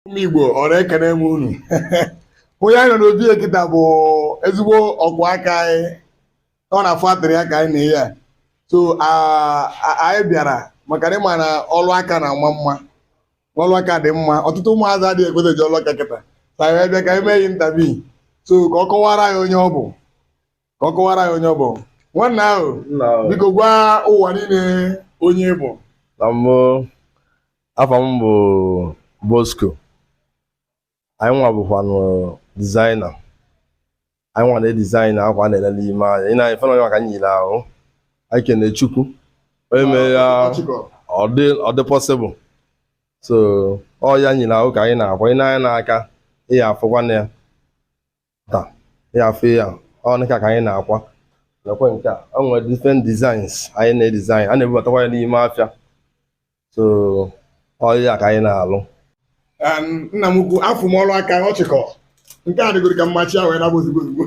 ụmụ Igbo ọra ekene m unu onye anyị nọ n'obi ya kịta bụ ezigbo ọkwa akwa anyị ọ na-afụ attire ya ka anyị na ya so anyị bịara maka na ị ma na ọlụ aka na-ama mma ọlụ aka dị mma ọtụtụ ụmụazị adịghị ekweta ji ọlụ aka kịta ka anyị bịa ka anyị mee ya interview so ka ọ kọwara anyị onye ọ bụ ka ọ kọwara anyị onye ọ bụ nwanna ahụ biko gwa ụwa niile onye ị bụ na mbụ afa m bụ Bosco anyị nwa bụkwanụ designer anyị nwa na-edesign akwa a na-ele ele ị nee anya ị nee anya ife nwa ka m yi n'ahụ anyị kene Chukwu onye mere ya ọ dị possible so ọ ya m yi n'ahụ ka anyị na-akwa ị nee anya n'aka ị ya-afụkwa ya ta ya afọ ya ọ nịka ka anyị na-akwa nakwa nke a o nwere different designs anyị na-edesign a na-ebubatakwa ya n'ime afịa so ọ ya ka anyị na-alụ nna m ukwu afụ m ọrụ aka ọchịkọ nke a dịgoro ka mmachi ahụ na ozugbo ozugbo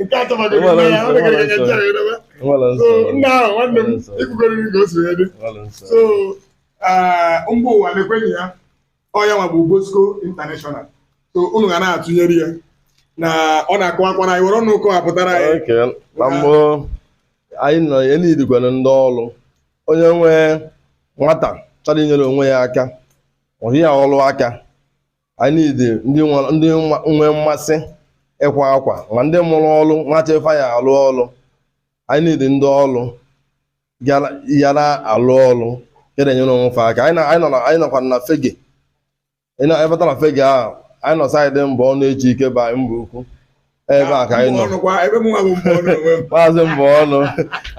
nke a chọbagoro nna ya ọ dịgoro ka nche ahụ edobe so nna ahụ nwanne m ikwugoro ka o si wee dị so mba ụwa na-ekwenye ya ọ ya nwa bụ Bosco International so unu ga na-atụnyere ya na ọ na-akọwakwara anyị were ọnụ kọwapụtara anyị Okay, na mbụ anyị nọ ya nidikwana ndị ọrụ onye nwee nwata chọrọ inyere onwe ya aka ọhị ya ọrụ aka anyị nidi ndị nwa- ndị nwa- nwe mmasị ịkwa akwa ma ndị mụrụ ọrụ na-achọ ife fa ya-alụ ọrụ anyị nidi ndị ọrụ ya na-alụ ọlụ ya na-enyere onwe fa aka anyị nọkwa na Fegge ị bata na Fegge ahụ anyị nọ side Mbonu Ejike by Mbaukwu ebe a ka anyị nọ Maazị Mbonu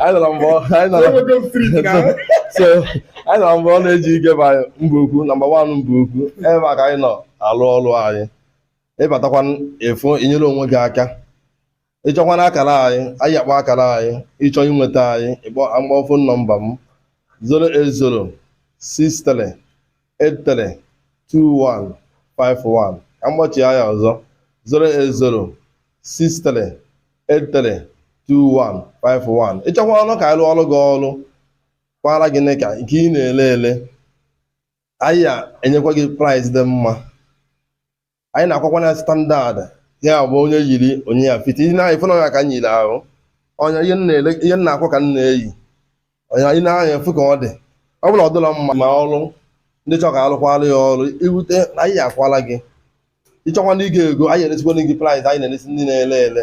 anyị nọrọ mbụ anyị nọrọ Mbonu Ejike by Mbaukwu number one Mbaukwu ebe a ka anyị nọ alụ ọlụ anyị ị batakwa efu inyere onwe gị aka ị chọkwanụ akara anyị anyị ya-akpọ akara anyị ị chọọ inweta anyị ka m kpọọ phone number m 08063832151 ka m kpọchie ya ọzọ 08063832151 ị chọkwa ọrụ ka anyị rụọrọ gị ọrụ kwara gị nịka nke ị na-ele ele anyị ya-enyekwa gị price dị mma anyị na-akwakwa na standard ya bụ onye yiri onye ya fiti ihe na-anyị fụna ya ka m yiri ahụ ọ ihe m na-akwa ka m na-eyi ị nee anya ị fụ ka ọ dị ọ bụla ọ dịla mma ma ọrụ ndị chọrọ ka a lụkwara ya ọrụ irute na anyị ya-akwala gị ị chọkwa ndị ị ga-ego anyị elesikwa gị price anyị na-eresi ndị na-ele ele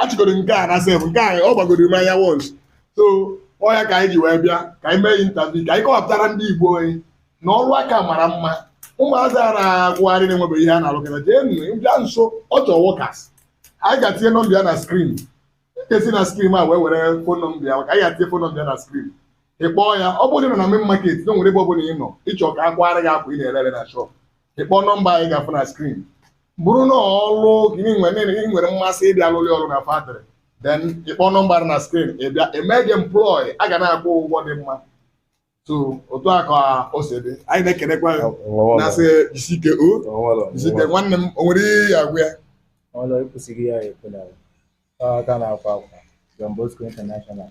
achịgoro nke a na sef nke a ọ gbagoro m anya once so ọ ya ka anyị ji wee bịa ka anyị mee interview ka anyị kọwapụtara ndị igbo anyị na ọrụ aka mara mma ụmụazị a na-agagharị na-enwebeghị ihe ha na-alụkọta jee nụ bịa nso ọ chọọ workers anyị ga-atinye number ya na screen in case ị na screen a wee were phone number ya maka anyị ga-atinye phone number ya na screen ị kpọọ ya ọ bụrụ na ị nọ na main market anywhere ebe ọ bụla ị nọ ị chọọ ka a kwara gị akwa ị na-ere ere na shop ị kpọọ number anyị ga-afụ na screen bụrụ na ọlụ gị nwere ị nwere mmasị ịbịa lụlị ọrụ na factory then ị kpọọ number dị na screen ị bịa e mee gị employ a ga na-akwụ ụgwọ dị mma so otu a ka o si dị anyị na-ekenekwa ya na-asị jisike o jisike nwanne m o nwere ihe ya agwa ya ọlụ ekwesịghị ya ekwe na aka na-akwa akwa John Bosco International